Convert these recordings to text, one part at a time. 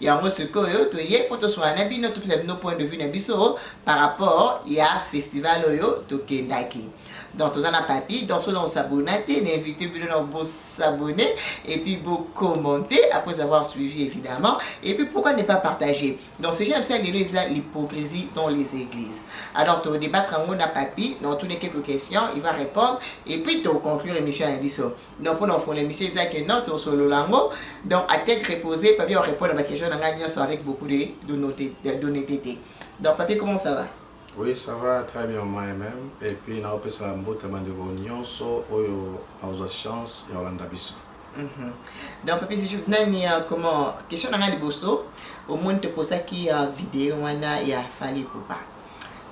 yango sikoyo toye mpo toswana na bino topesa bino point de vue na biso par rapport ya festival oyo tokendaki donc toza na papi donc soki nakosabona te na invité bino na bosabone et puis bocommente après avoir suivi évidemment et puis pourquoi ne pas partager donc sujet na biso ya lelo eza l'hypocrisie dans les églises alors todebattre yango na papi na otuni quelques questions il va répondre et puis toconclure émission na biso donc mpona kofongola émission eza ke non tosolola yango donc à tête reposée papier orépondre baquestion na ngai nyonso avec beaucoup de d'honnêteté donc papier comment ça va Oui, ça va très bien moi-même. Et puis, na opesa mbote bandeko nyonso oyo aoza chance ya olanda biso. Mhm. Donc, papi Sejou, nani ya comment question na ngai liboso omoni toposaki ya video wana ya Fally Ipupa.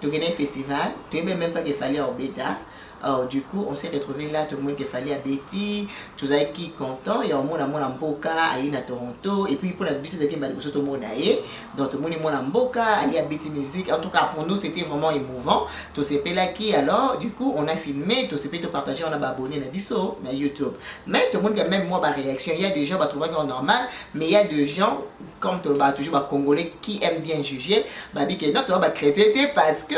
tokendaki festival toyebi meme pas que fali aobeta alors du coup on s'est retrouvé là tomoni que fali abeti tozalaki content ya omona mwana mboka aye na toronto et puis mpona biso ezalaki mbala liboso tomona ye donc tomoni mwana mboka aye abeti musique en tout cas pour nous c'était vraiment émouvant tosepelaki alors du coup on a filmé tosepeli topartage wana baabonné na biso na youtube mais tomoni que même moi baréaction ya des gens batrouvaki en normal mais ya des gens comme tolobaka toujours ba congolais qui aime bien juger babi ke non toza ba chrétien te parce que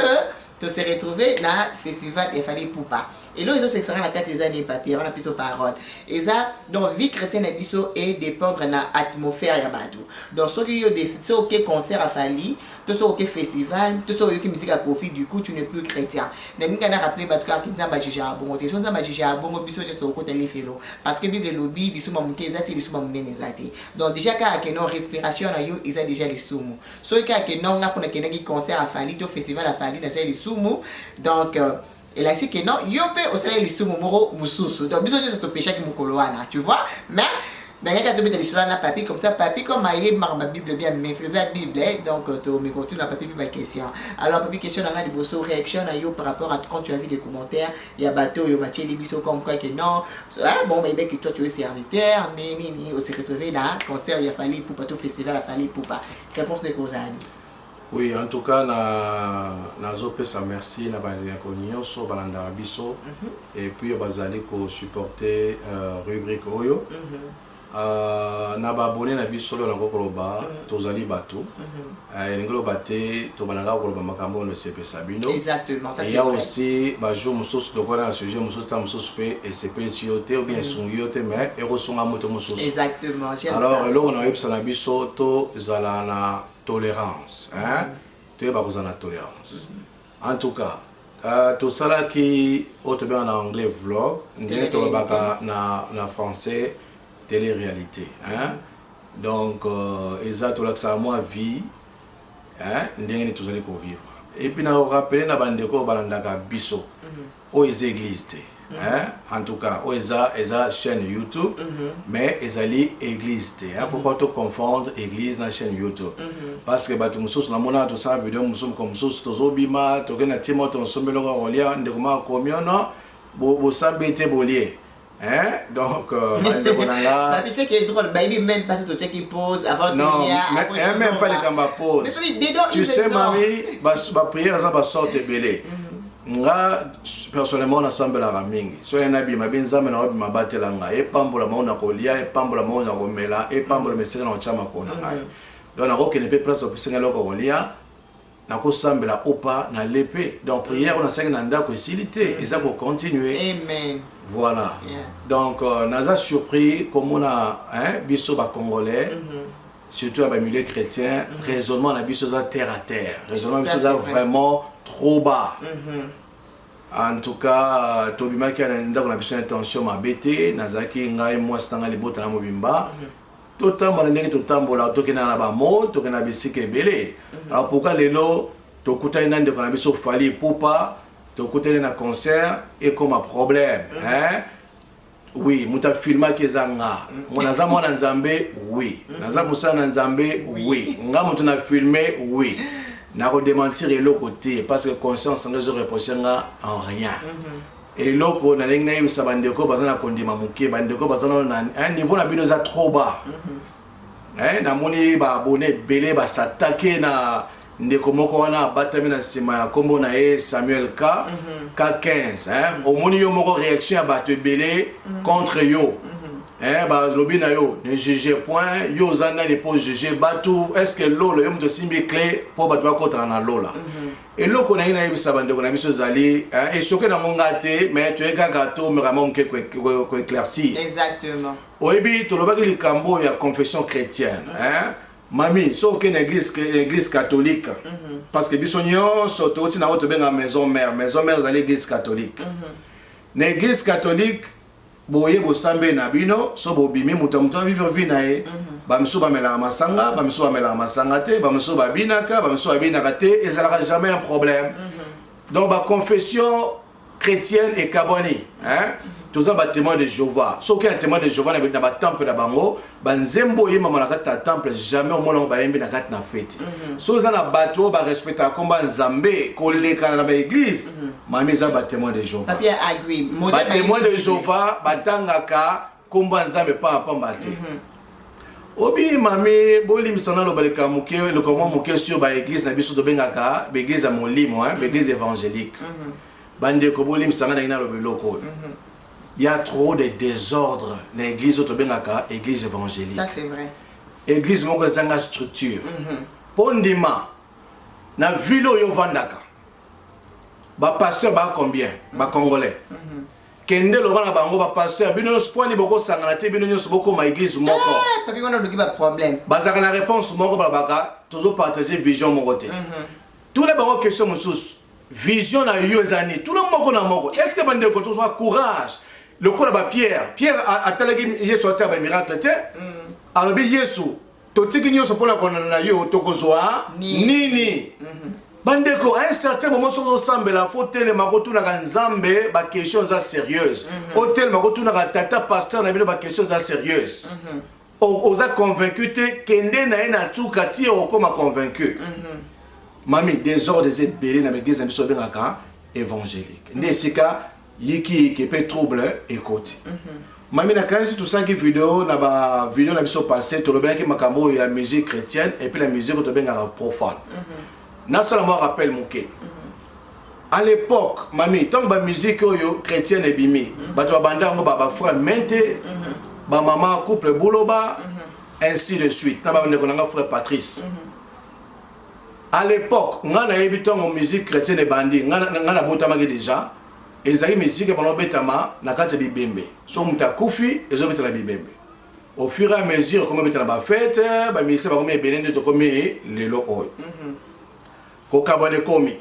to se retrouver na festival ya fali pupa eloko ezosekisaka na kati eza nini papier wana biso parole eza donc vie chrétienne na biso edépendre na atmosphère ya bato donc soki yo soki oke concert ya fali to soki oke festival to soki oyoki miziki ya kofi du coup tu ne plus chrétien nalingi kana rappeler bato kaka nzambe ajugea bongo te so nzambe ajugea bongo biso nyonso tokokota lifelo parce que bible elobi lisuba moke eza te lisuba monene eza te donc dejà kaka ke non respiration na yo eza dejà lisumu soki kaka ke non nga mpo nakendaki concert afali to festival afali nasali lisumu donc euh, elakisi ke non yo mpe osalaki lisumu moko mosusu donc biso nyonso topeshaki mokolo wana tu vois mais nangaki atobeta lisolo na papi comme ça papi comme ayebi makambo ya bible bien maîtrise bible eh, donc tomeka kotuna papi mpe baquestion alors papi question na ngai liboso réaction na yo par rapport à quand tu as vu des commentaires ya bato oyo batieli biso comme quoi que non ah, bon bayebi que toi tu es serviteur nini nini ose retrouve na concert ya fali ipupa to festival ya fali ipupa réponse ndeko ozali oui en tout cas na nazopesa merci na bandeko nyonso balandaka biso mm -hmm. et puis bazali kosupporte uh, rubrique oyo mm -hmm. Na ba abonnes na biso oyo nakoki koloba tozali batu elingi loba te tobanda kaka koloba makambo oyo esepelisa bino eya aussi ba jour mosusu tokola na sujet mosusu ta mosusu mpe esepelisi yo te obien esungi yo te mais ekosunga moto mosusu alors eloko na oyebisa na biso tozala na tolerance toyeba kozala na tolerance En tout cas, euh, tosalaki oyo tobenga na anglais vlog ndenge tolobaka na, na français télé-réalité hein? donc euh, eza tolakisaka mwa vie hein? ndenge nini tozali kovivre epuis na rapele na bandeko oyo balandaka biso mm -hmm. Oyo eza eglise te. Mm -hmm. En tout cas, oyo eza eza chaîne YouTube mm -hmm. mais ezali eglise te. Il faut pas to confondre église na chaîne YouTube. Mm -hmm. Parce que bato mosusu na mona to sala video mosusu ko mosusu tozo bima, tokenda timo to nsombelo ko kolia ndeko ma komiono bo bo sabete bolie. Hein? Donc, euh, Papi, c'est qui est drôle, baby, même pas tout ce qui pose avant de Non, même, même pas les gambas pose. Tu sais, mamie, ma prière, ça va sortir belé. Mhm. nga personnellement nasambelaka mingi so ye nabima be nzambe na obi mabatela nga epambola mao na kolia epambola mao na komela epambola mesika na kotya makona ngai mhm. donc nakokende mpe place opesi ngai eloko kolia nako sambela ou pas na le pe donc prière na saki na ndako esili te mm. eza ko continuer amen voilà yeah. donc euh, naza surpris komona hein biso ba congolais mm -hmm. surtout ya ba milieu chrétien mm -hmm. raisonnement na biso za terre à terre raisonnement biso za vraiment trop bas mm -hmm. en tout cas euh, tobimaki na ndako na biso na tension mabe te nazalaki ngai mwasi na ngai libota na mobimba mm -hmm. totambola na ndenge totambolaka tokendaka na bamo tokenda na bisika ebele mhm. alors pourquoi lelo tokutani na ndeko na biso fali epupa tokutani na concert ekoma problème mhm. hein? oui moto afilmaki eza nga mhm. ngo naza mwana nzambe oui naza mosala na nzambe oui nga moto na filme oui nakodementir eloko te parce que conscience nga ezoreproche nga en rien Eloko nalingi nayebisa bandeko baza na kondima moke, bandeko baza nano na eh, niveau na bino eza trop bas. Mhm. Eh, namoni ba abonne ebele ba s'attaquer na ndeko moko wana abatami na nsima ya nkombo na ye Samuel K mhm. K15 eh, mhm. omoni yo moko réaction ya bato ebele contre yo. Eh, balobi na yo ne juge point yo oza nani mpo juge bato est ce que lola yo moto osimbi cle mpo bato bakotana na lola mm -hmm. Eloko nalingi nayebisa bandeko na biso ezali esoke nango nga te mais toye kaka tomeka mwa moke koeclaircir oyebi tolobaki likambo oyo ya confession chrétienne hein? mami soki okei na église, église catholique mm -hmm. parce que biso nyonso touti nango tobenga maison mère maison mère ezali église catholique mm -hmm. na église catholique boye bosambe na bino so bobimi moto ya moto avivre vie na ye bamisusu bamelaka masanga bamisusu bamelaka masanga te bamisusu babinaka bamisusu babinaka te ezalaka jamais un problème donc baconfession chrétienne ekabwani toza batémoin de jéhovah soki un témoin de jéhovah na batemple na bango ba nzembo oyembama na kati na temple jamais omona yango bayembi na kati na feti mhm. so oza na bato oyo barespectaka nkomba nzambe kolekana na baeglise mhm. mami eza batémoin de jehova batémoin de jehova batangaka nkomba nzambe pamba pamba te mhm. obi mami bolimbisa naloba leka moke eloko mwa moke sur baeglise na biso tobengaka baeglise ya molimo baeglise évangélique bandeko bolimbisa ngai nangi naloba eloko oyo Ya trop de desordre na eglise oyo tobengaka eglise evangelique. Ça c'est vrai. Eglise moko ezanga structure. Mm -hmm. Po ndima na ville oyo ovandaka ba pasteur ba combien mm -hmm. ba congolais. Mm -hmm. kende loba na bango bapasteur bino nyonso mpo ani bokosangana te bino nyonso bokoma eglise moko eh, bazalaka na réponse moko balobaka tozopartage vision moko te mhm. Tuna bango question mosusu. Vision na yo eza nini? Tuna moko na moko. Est-ce que bandeko tozwa courage lokola ba Pierre? Pierre atalaki Yesu atala ba miracle te. Mm. Alobi Yesu, totiki nyonso mpo na kolanda na yo, tokozwa nini? nini? Mm -hmm. bandeko a un certain moment soki ozosambela fo otelema kotunaka nzambe baquestion eza sérieuse mm -hmm. otelema kotunaka tata pasteur na bino baquestion eza sérieuse mm -hmm. oza convaincu te kende na ye na nsuka ti okokoma convaincu mhm. mami desordre eza ebele na baeglise na biso babengaka évangélique nde esika yikiyiki mpe trouble ekoti mhm. mami nakanisi tosalaki video na bavideo na biso passé tolobelaki makambo oyo ya musique chrétienne epuis na musique oyo tobengaka profane mhm. nasala mwa rappel moke A l'epoque mami tango ba musique oyo chretienne ebimi mhm. bato babanda yango ba ba frère mente mhm. ba mama couple buloba ainsi de suite na bandeko na nga frère patrice à l'époque nga nayebi ntango musique chrétienne ebandi nga nabotamaki déjà ezali musique ebanda obetama na kati ya bibembe so moto akufi ezobeta na bibembe au fur et à mesure ekomi obeta na bafete baministère bakomi ebele nde tokomi lelo oyo mm -hmm. Kokabwana ekomi.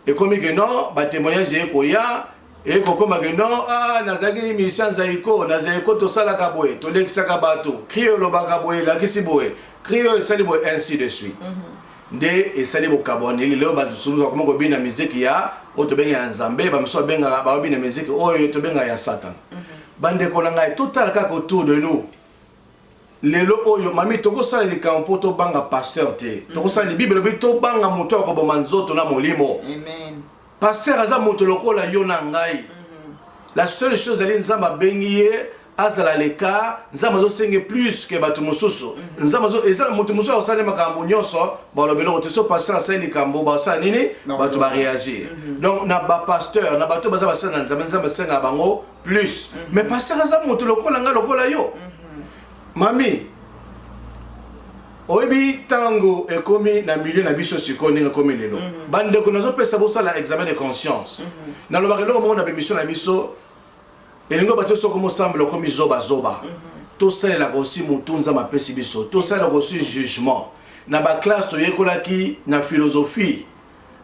Ekomi que non, ba témoignages eye koya, eye kokoma que non, ah, nazalaki musicien Zaiko, na Zaiko tosalaka boye, tolekisaka bato, cri olobaka boye, elakisi boye, cri oyo esali boye, ainsi de suite. Mm -hmm. nde esali bokabwaneli lelo bato mosusu bakoma kobina miziki ya oyo tobengaka ya nzambe bamosusu babengaka babina miziki oyo tobengaka ya satana mhm. bandeko na ngai totala kaka autour de nous Lelo oyo mami tokosala likambo mpo tobanga pasteur te. Mm. Tokosala libible elobi tobanga moto ya koboma nzoto na molimo. Amen. Pasteur aza moto lokola yo na ngai. Mm-hmm. La seule chose ezali Nzambe abengi ye azala leka Nzambe azosenge plus ke bato mosusu. Mm-hmm. Nzambe azo ezala moto mosusu akosala makambo nyonso balobi eloko te so pasteur asali likambo basala nini bato bareagir. Mm-hmm. Donc na bapasteur na bato baza basala na Nzambe Nzambe asengaka bango plus mm -hmm. mais pasteur aza moto lokola nga lokola yo mm -hmm. mami oyebi ntango ekomi na milieu na biso sikoyo ndenge ekomi lelo mhm. bandeko nazopesa bosala examen de conscience mhm. nalobaka eloko moko na bemission na biso elingi bato soko mosambela okomi zobazoba mhm. tosalelaka osi motu nzambe apesi biso tosalelaka osi jugement na baklasse toyekolaki na philosophie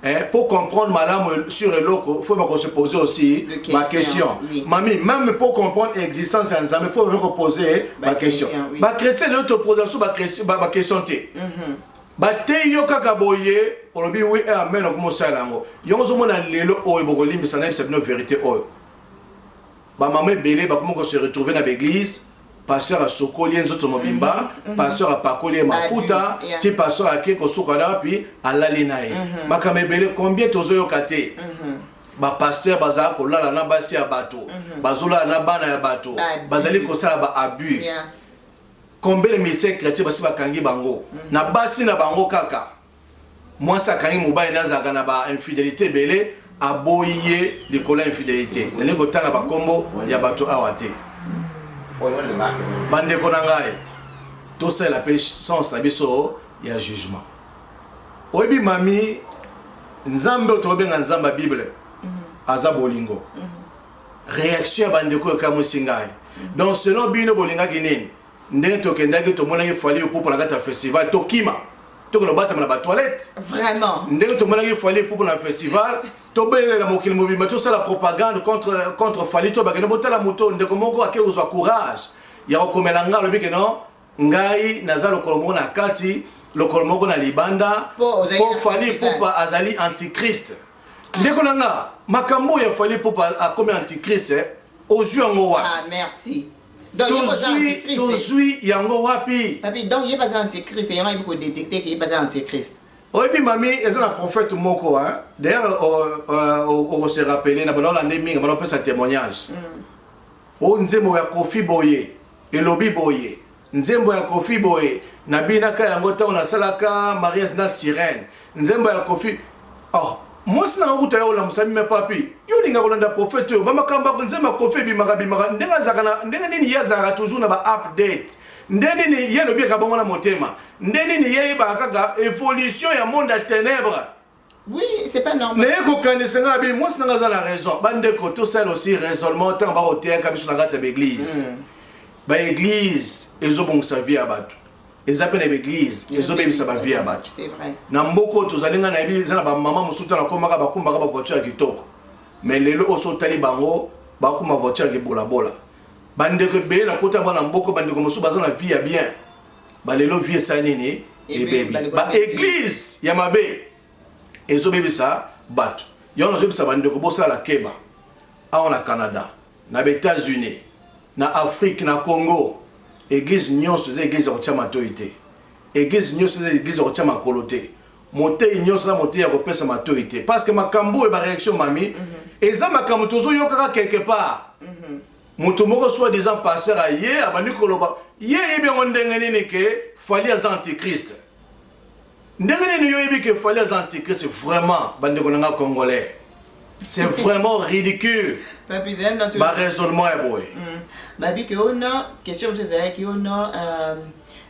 Eh, pour comprendre malamu sur eloko faut bako se poser aussi ba question oui. mami même pour comprendre existence ya nzambe faut bako poser ba question ba chrétien leo toposa so ba question te mhm. bateyi yo kaka boye olobi wi eh, amen okomosala yango yango ozomona lelo oyo bokolimbisa nayebisa bino verité oyo bamama ebele bakomi ko se retrouver na baeglise pasteur asokoli ye nzoto mobimba mm -hmm. pasteur apakoli ye mafuta yeah. ti pasteur ake kosuka na wapi alali na ye mm -hmm. makambo ebele combien tozoyoka te mm -hmm. bapasteur bazala kolala na basi ya bato mm -hmm. bazolala na bana ya bato bazali kosala ba abus yeah. combien de ministère chrétien basi bakangi bango mm -hmm. na basi na bango kaka Mwasi akangi mobali na azalaka na ba infidelite ebele aboyi ye likolo ya infidelite. Nalingi kotanga bakombo ya bato awa te. Bandeko na ngai, tosalela mpe sens na biso ya jugement. Oyebi mami, Nzambe oyo tobenga Nzambe ya Bible mm. aza bolingo. Mm. Reaction ya bandeko ekamwisi ngai. Mm. Donc selon bino bolingaki nini? Ndenge tokendaki tomonaki Fally Ipupa na kati ya festival tokima tokende kobatama na batoilette vraiment ndenge tomonaki Fally Ipupa na festival tobelela mokili mobimba tosala propagande contre, contre Fally to bakende botala moto ndeko moko ake kozwa courage ya kokomela ngai alobi keno ngai naza lokolo moko na kati lokolo moko na libanda po Fally Ipupa azali antichrist ndeko na nga makambo ya Fally Ipupa akomi antichrist eh? ozwi yango wapi ah, merci Donc, ye baza tozwi antichrist. tozwi yango wapi Papi, donc ye baza antichrist, yango ayebi kodetecte ke ye baza antichrist. oyebi mami eza na prophète moko hein? d'ailleurs o- o- o- okose rappele na bana olande mingi bana opesa témoignage o nzembo ya kofi boye elobi boye nzembo ya kofi boye nabinaka yango ntango nasalaka mariage na sirène Nzembo ya Koffi oh mwasi nanga kuta ya olamusami me papi yo olinga kolanda prophète oyo bamakambo ya nzembo ya Koffi ebimaka bimaka ndenge azalaka na ndenge nini ye azalaka toujours na ba update nde nini ye alobi eka bongo na motema nde nini ye yebaka kaka evolution ya monde ya ténèbres Oui, c'est pas normal. Mais ko kanisa nga bi mwasi nanga aza na raison. Bande ko to sala aussi raisonnement tant ba oteyaka biso na kati ya l'église. Mm. Ba église ezobongisa vie ya bato. eza mpe na baeglise ezobebisa bavie ya bato na mboka oyo tozali ngai nayebi eza na bamama mosusu ntango nakomaka bakumbaka bavoiture ya kitoko mais lelo oyo so otali bango bakuma voiture ya kibolabola bandeko ebele nakota yango na mboka bandeko mosusu baza na vie ya bien balelo vie esala nini ebebi baeglise ya mabe ezobebisa bato yango nazobisa bandeko bosala keba awa na canada na ba Etats Unis, na Afrique, na Congo eglise nionso eza eglise ya kotia matoyi te, eglise nionso eza eglise ya kotia makolo te, moteyi nionso na moteyi ya kopesa matoyi te parce que makambo oyo ba reaction mami mm -hmm. eza makambo tozoyokaka quelque part mm -hmm. moto moko soit disant passer aye abandi koloba ye yebi yango ndenge nini ke fali aza antichrist Ndenge nini yo yebi que Fally aza antichrist vraiment bandeko na nga congolais c'est vraiment ridicule ba raisonnement ya boye mm. babi que oh non question mosusu ezalaki oh non euh,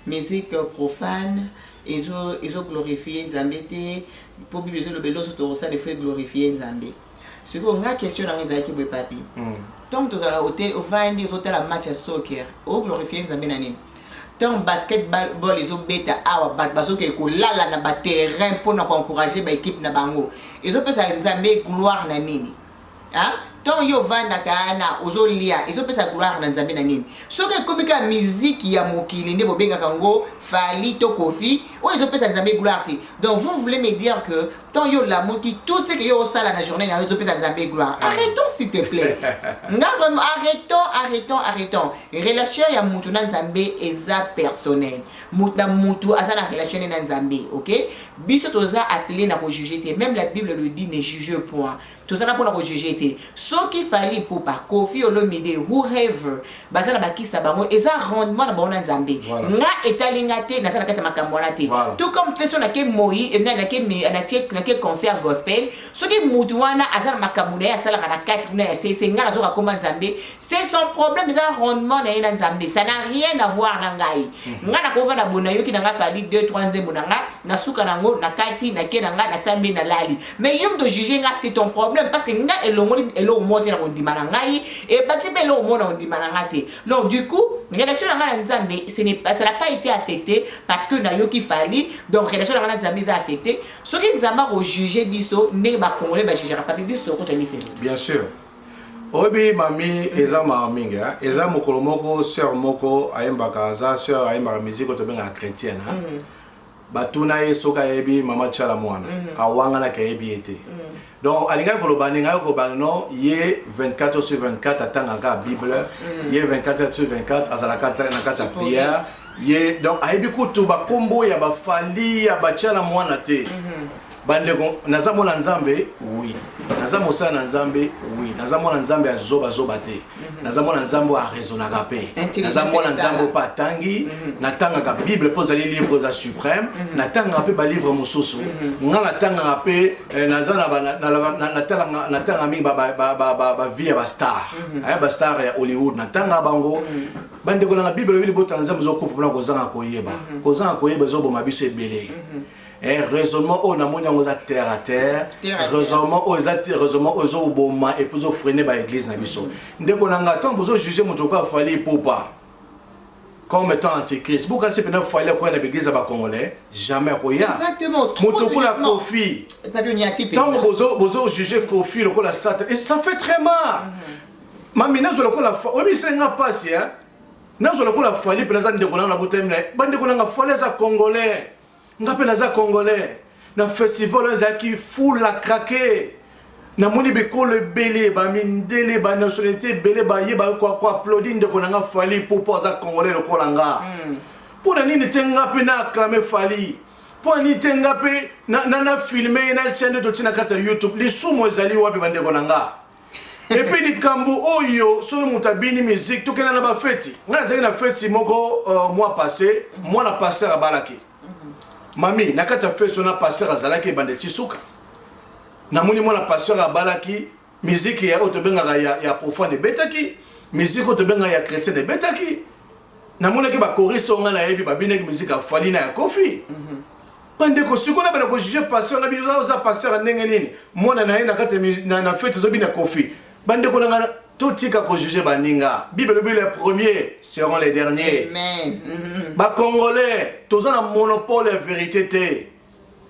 musique profane ezo ezo glorifie nzambe te mpo bible ezoloba eloso tokosala efo eglorifie nzambe sikoyo nga question na nga ezalaki boye papi mm. ntango tozala ovandi ozotala match ya soccer oglorifie nzambe na nini Tango basket ball ezo beta awa bato bazo ke ko lala na ba terrain mpo na ko encourager ba equipe na bango. Ezo pesa Nzambe gloire na nini? Hein? Tango yo vandaka na ozo lia ezo pesa gloire na Nzambe na nini? Soki ekomi ka musique ya mokili nde bobengaka ngo Fally to Koffi, oyo ezo pesa Nzambe gloire te. Donc vous voulez me dire que tant yo lamuki tout ce que yo osala na journée na yo ezopesa nzambe gloire ah. arrêtons s'il te plaît nga vraiment arrêtons arrêtons arrêtons relation ya mutu na nzambe eza personnel mutu na mutu aza na relation ne na nzambe ok biso toza appelé na kojuge te même la bible le dit ne juge point Toza na pona ko juger te. Soki Fally Ipupa, Koffi Olomide, whoever baza na ba kisi na bango eza rendement na bango na Nzambe. Voilà. Nga etali nga te naza na kati ya makambo wana te. Voilà. Tout comme feso na ke moyi na na ke mi- na ke na ke concert gospel soki mutu wana aza na makambo na ye asalaka na kati kuna ya sese nga nazoka koma Nzambe C'est son problème, c'est un rendement na yena nzambe. Ça n'a rien à voir na ngai. Mhm. Nga na kova na bona yoki na nga fali 2 3 nzembo na nga, na suka na ngo, na kati, na ke na nga, na sambi na lali. Mais yom to juger nga c'est ton problème parce que nga elongoli elo mote na kondima na ngai et bati pe elo mona kondima na nga te. Donc du coup, relation na nga na nzambe, ce n'est pas ça n'a pas été affecté parce que na yoki fali. Donc relation na nga na nzambe est affectée. Soki nzamba ko juger biso, ne ba congolais ba jugera pas biso ko tani Bien sûr. Oyebi mami eza mawa mingi hein? Eza mokolo moko sœur moko ayembaka aza sœur ayembaka musique oyo tobengaka chrétienne hein? Mm. Batuna ye soki ayebi mama Tshala Muana mm. awanganaki ayebi ye te mm. Donc alingaki koloba nini ngai koloba non ye 24 heures sur 24 atangaka bible mm. ye 24 heures sur 24 azalaka na kati ya prière ye donc ayebi kutu bakombo ya bafali ya Tshala Muana te mm -hmm. bandeko naza mwana nzambe wi naza mosala na nzambe wi naza mwana nzambe ya zobazoba te mhm. naza mwana nzambe oyo araisonaka mpe naza mwana nzambe oyo mpe atangi mhm. natangaka bible mpo ezali livre eza supreme mhm. natangaka mpe balivre mosusu nga natangaka mpe eh, naza natangaka mingi bavie ya bastar eh, bastar ya hollywood natangaka bango bandeko nanga bible oyebi libota na nzambe ezokufa mpona kozanga koyeba kozanga koyeba ezoboma biso ebele Eh, raisonnement oyo namoni yango eza terre à terre raisonnement oyo eza raisonnement oyo ezoboma epuis ezofrene baeglise na biso mm-hmm. ndeko na ngai ntango bozojuge moto lokola fali epopa comme étant antichrist bokanisi mpena fali akoya na baeglise ya bacongolais jamais akoya moto lokola kofi ntango bozojuge kofi lokola satan et ça fait très mal mm-hmm. mami nazwa lokola oyebisa nga mpasi nazwa lokola fali mpena aza ndeko nanga na botami na ye bandeko nanga fali aza congolais nga mpe naza congolais na festival oyo ezalaki full la krake namoni bikolo ebele bamindele banationalité ebele baye bakoaplodi ndeko na nga fali mpo mpo aza congolais lokola nga hmm. mpo na nini te nga mpe na acclame fali mpo na nini te nga mpe na filme ye na chaine totina kati ya youtube lisumu ezali wapi bandeko na nga et puis likambo oyo soki moto abini musique tokenda na bafeti ngai nazalaki na feti moko uh, mwa passe mwana pasteur abalaki mhm. mami na kati ya feti wana pasteur azalaki ebanda eti suka namoni mwana pasteur abalaki miziki ya oyo tobengaka ya, ya profane ebetaki miziki oyo tobengaka ya chrétien ebetaki namonaki bakoriste oyo ngai nayebi babinaki miziki ya fali na ya kofi mm -hmm. Ba ndeko siko na bana ko juger pasteur na bino oza pasteur ya ndenge nini mwana na ye na kati na, na fete ozo bina kofi ba ndeko na nga totika ko juger ba ninga bible lobi les premiers seront les derniers amen mm-hmm. ba congolais toza na monopole ya verite te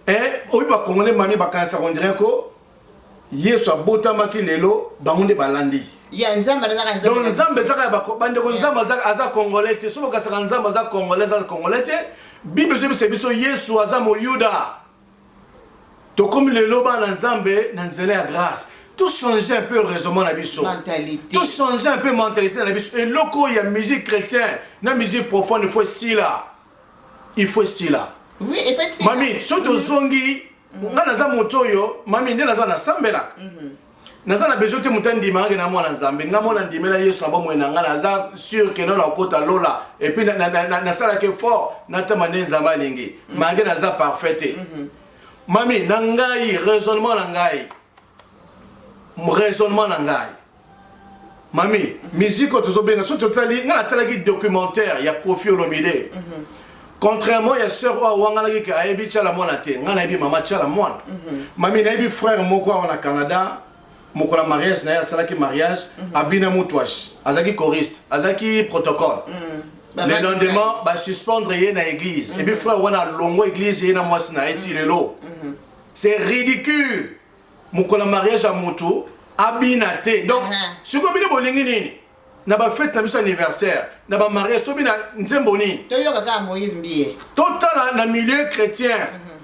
eh oyi ba congolais mami bakanisa on dirait ko Yesu abotamaki lelo bango nde balandi ya nzambe alingaka nzambe donc nzambe ezaka ya bako bandeko nzambe aza aza congolais te soki okasaka nzambe aza congolais aza congolais te bible ezobisa biso yesu aza moyuda tokomi lelo bana nzambe na nzela ya grâce tochanger un peu raisonnement na biso tochanger un peu mentalité na biso eloko ya musique chrétien na musique profane fo esila il faut esila oui il faut esila mami soki tozongi nga naza moto oyo mami nde naza nasambelaka mhm. naza na besoin te moto andimaka ke na mwana nzambe nga mwana ndimela yesu na bomoi na nga naza sur ke nona okota lola epuis nasalaka effort natama nde nzambe alingi mhm. malgre naza parfait te mhm. mami na ngai raisonnement na ngai raisonnement na ngai mami musique oyo tozobenga soki totali ngai natalaki documentaire ya kofi olomide mm -hmm. contrairement ya sœur oyo awanganaki ke ayebi tyala mwana te ngai nayebi mama tyala mwana mm -hmm. mami nayebi frère moko awa na canada mokola mariage na ye asalaki mariage mm -hmm. abina mutuash azalaki choriste azalaki protocole mm -hmm. le lendemain basuspendre ye na église mm -hmm. epuis frère wana alongwa église ye na mwasi na ye ti lelo mm -hmm. C'est ridicule mokolo ya mariage ya moto abina te donc uh -huh. sikoyo bino bolingi nini na bafete na biso anniversaire na bamariage tobina nzembo nini toyoka kaka moïse mbiye totala na milieu chrétien mm -hmm.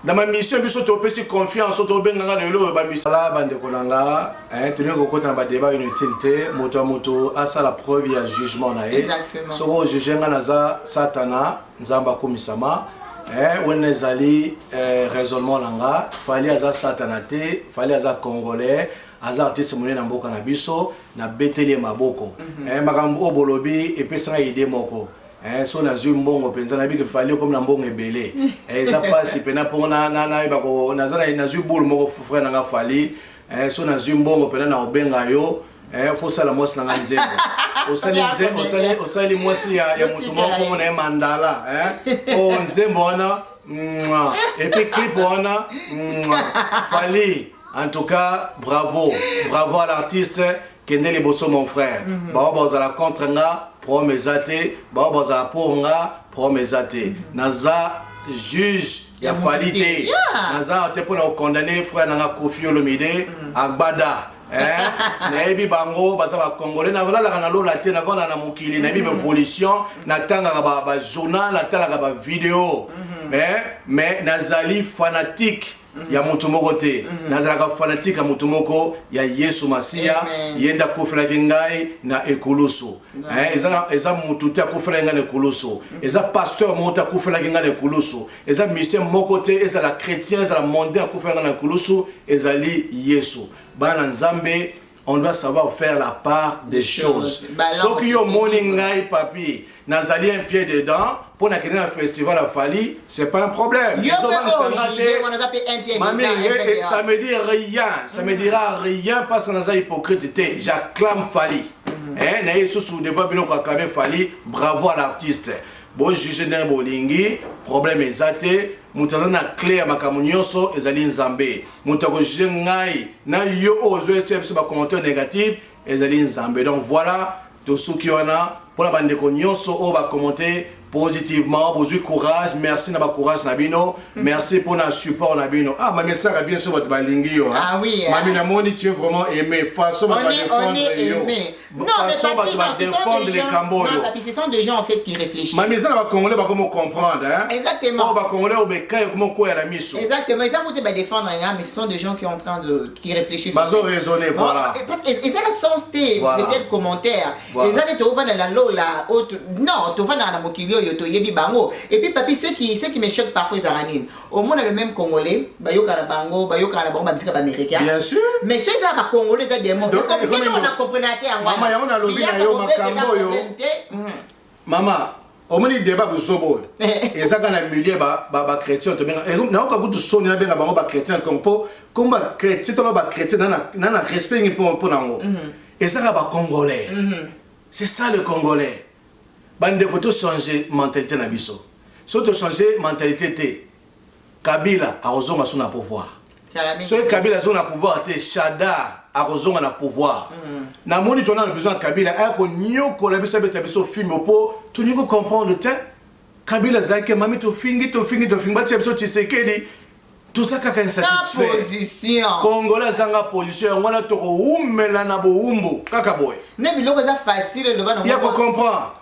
na bamisio biso topesi confiance oyo tobengaka na eloko bamisala bandeko na nga eh, tolingi kokota na badeba inutile te moto ya moto asala preuve ya jugement na ye soki ojuge nga naza satana nzambe akomisama eh, wana ezali eh, raisonnement na nga fali aza satana te fali aza congolais aza artiste monene na mboka na biso nabeteli ye maboko mm -hmm. eh, makambo oyo bolobi epesi ngai ide moko eh, so nazwi mbongo mpenza nayebi ke fali okomi na mbongo ebele eh, eza mpasi mpena mpo nayeba naza nazwi boule moko frere na nga fali eh, so nazwi mbongo mpena na obenga yo eh, fosala mwasi na ngai nzembo osali nze- osali- osali mwasi ya, ya motu moko kombo na ye mandala eh? o nzembo wana mwa. epuis clip wana mwa. fali en tout cas bravo bravo à l'artiste kende liboso mon frère bao bazala contre nga problème eza te bao bazala pour nga problème eza te naza juge ya fali te naza awa te mpo na kokondane frère nanga kofi olomide mm. agbada eh, nayebi bango baza bacongolais nalalaka na lola te navanda na mokili nayebi mm. baévolution natangaka bajournal natalaka bavideo mm-hmm. eh, mais nazali fanatique mm-hmm. ya moto moko te mm-hmm. nazalaka fanatike ya moto moko ya yesu masiya ye nde akofelaki ngai na ekulusu Eh, eza eza mutu te akufelaki ngai na ekulusu eza pasteur moko te akufelaki ngai na ekulusu eza musicien moko te ezala chrétien ezala mondain akufelaki ngai na ekulusu ezali yesu bana na nzambe on doit savoir faire la part des choses soki yo omoni ngai papi nazali un pied dedans mpo na kende na festival ya fali c'est pas un problème samedi rien ça me dira rien parce naza hypocrite te j'acclame fali mm. eh, na ye lisusu devant bino kakame fali bravo à l'artiste bojuge ndenge bolingi problème eza te moto aza na cle ya makambo nyonso ezali nzambe moto akojuge ngai na yo oyo ozoyetya biso bacommentaire négatif ezali nzambe donc voilà tosuki wana mpo na bandeko nyonso oyo bakommente positivement bozui courage merci na bacourage na bino mhm. merci mpo na support na bino ah mami esaka bien so bato balingi yo ah eh. mami namoni tu es vraiment aimé façon bato badefendre yo façon bato badefendre likambo oyo mami eza na bacongolais bakomi comprendre oyo oh, bacongolais oyo bekai ekomi okwea na miso bazo raisonne voilà eh, eza na sens te peut-être commentaire Voilà. eza nde tovanda na lola oyo tu- non tovandaka na mokili oyo toyebi bango et puis papi ce qui ce qui me choque parfois ezalaka nini omona le même congolais bayokana bango bayokana na bango bamisika baméricain Bien sûr. mais so eza bacongolais eza demon Donc, ekomi ekomi- na comprenate yango Mama, yango nalobi na yo makambo oyo. mama omoni deba buzoba oyo ezaka na milieu bachrétien tobenga eh, nayoka kutu soni nabenga bango bachrétien kongo mpo kombo bachrétien tolo bachrétien na na respect ngi mpo na yango mhm. ezaka bacongolais mhm. c'est ça le congolais bandeko tochange mentalité na biso soki tochange mentalité te Kabila akozonga su na pouvoir. Soki Kabila azonga na pouvoir te, Shadar akozonga na pouvoir. Mm. Na moni tona na besoin Kabila aya konyokola biso abeta biso fimbo po tolingi ko comprendre te. Kabila azalaki mami tofingi tofingi tofingi batia biso Tshisekedi toza kaka insatisfait kongola azanga position yango wana tokowumela na bowumbu kaka boye ne biloko eza facile eloba ya kocomprendre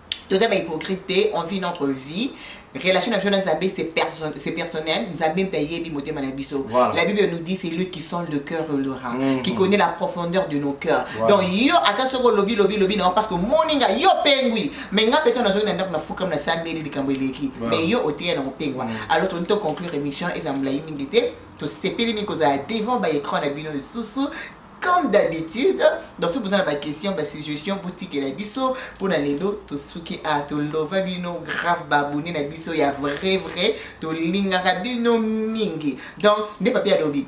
toza ba hypocrite te on vit notre vie relation na biso na nzambe c'est personnel nzambe mpe ayebi motema na biso voilà. la bible nous dit c'est lui qui sent le cœur et le rein mm -hmm. qui connaît la profondeur de nos cœurs voilà. donc yo ata soki olobi lobi lobi na parce que omoni nga yo pengwi mais nga mpe to nazongi na ndako nafukam nasambeli likambo eleki voilà. mais yo oteya na mopengwa mm -hmm. alors toni to conclure émission eza molai mingi te tosepeli mingi kozala devant baécran na bino lisusu comme d'habitude donc soki boza na baquestion basuggestion botikela biso mpo na lelo tosuki a tolova bino grave baabone na biso ya vrai vrai tolingaka bino mingi donc nde papi alobi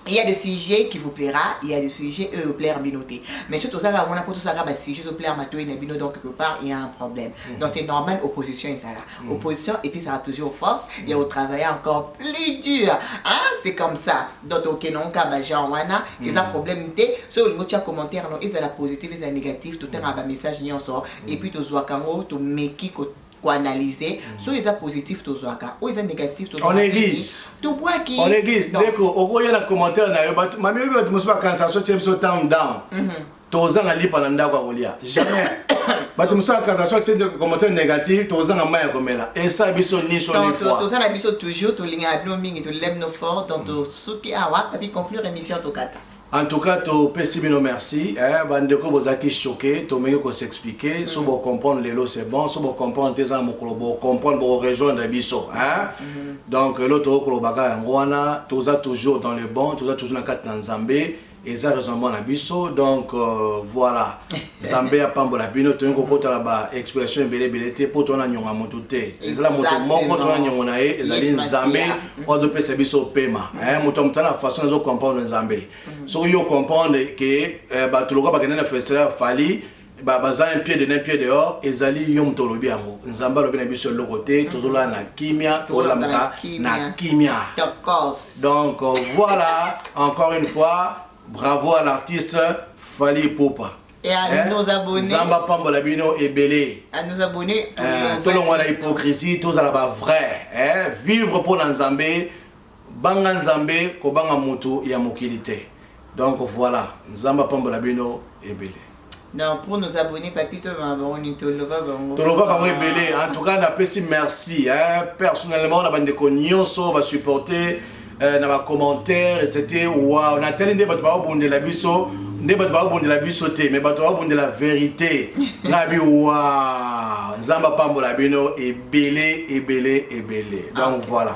il y a des sujets qui vous plaira il y a des sujets eux plaire bino te mais surtout ça on a pour tout ça ba sujets au plaire matoyi na bino donc quelque part il y a un problème mm. donc c'est normal opposition ezala Mm. Opposition et puis ça a toujours force mm. ya travailler encore plus dur hein? c'est comme ça donc okenonka bagenre wana mm. eza problème te soki olingi otya commentaire no ezala positif ezala négatif totangaka bamessage nyonso mm. et puis tozwaka yango tomeki koanalyse mm. soki eza positif tozwaka oyo eza négatif tobwaki ndeko okoya na commentaire na yo mami oyebi bato mosusu bakanisaka so tie biso town down mm -hmm. tozanga lipa na ndako ya kolia jamais bato mosala cassation tinde commentaire négatif tozanga mai ya komela esa biso niso toza na biso toujours tolingaka bino mingi tolelem no fort donc tosuki awa papi conclure émission tokata en tout cas topesi bino merci eh, bandeko bozalaki choqué tomeki kosexplike so mm. bocomprendre lelo c'est bon so bocomprendre te eza na mokolo bocomprendre bokorejoindre biso hein? Mm. donc lelo tokokoloba kaka yango wana toza toujours dans le bon toza toujours na kati na nzambe eza raisonnement na biso donc euh, voilà nzambe apambola bino toyei kokota na ba expression ebele ebele te mpo towana nyongo ya motu te ezala moto moko towana nyongo na ye ezali nzambe oyo azopesa biso pema eh, moto ya motala na façon azo comprendre nzambe mm. soki yo comprendre ke eh, bato lokola bakende na festival ya fali ba baza un pied de un pied dehors ezali yo moto olobi yango nzambe alobi na biso eloko te mhm. tozolala na kimia tolamuka na kimia donc euh, voilà encore une fois bravo à l'artiste fali popa et à eh, nos abonnés Zamba Pambola Bino et Belé à nos abonnés eh, tout le monde a hypocrisie tous à la vrai eh, vivre pour l'Anzambé Banga nzambe kobanga mutu ya mokili te donc voila nzambe apambola bino ebele. Donc pour nos abonnes papito banga bango nini to lova bango. To lova bango ebele en tout cas na pesi merci hein personnellement na bande ko nyoso ba supporter euh, na ba commentaires et c'était waouh na tali nde bato ba bondela biso nde bato ba bondela biso te mais bato ba bondela vérité na bi waouh nzamba pambola bino ebele ebele ebele donc okay. voilà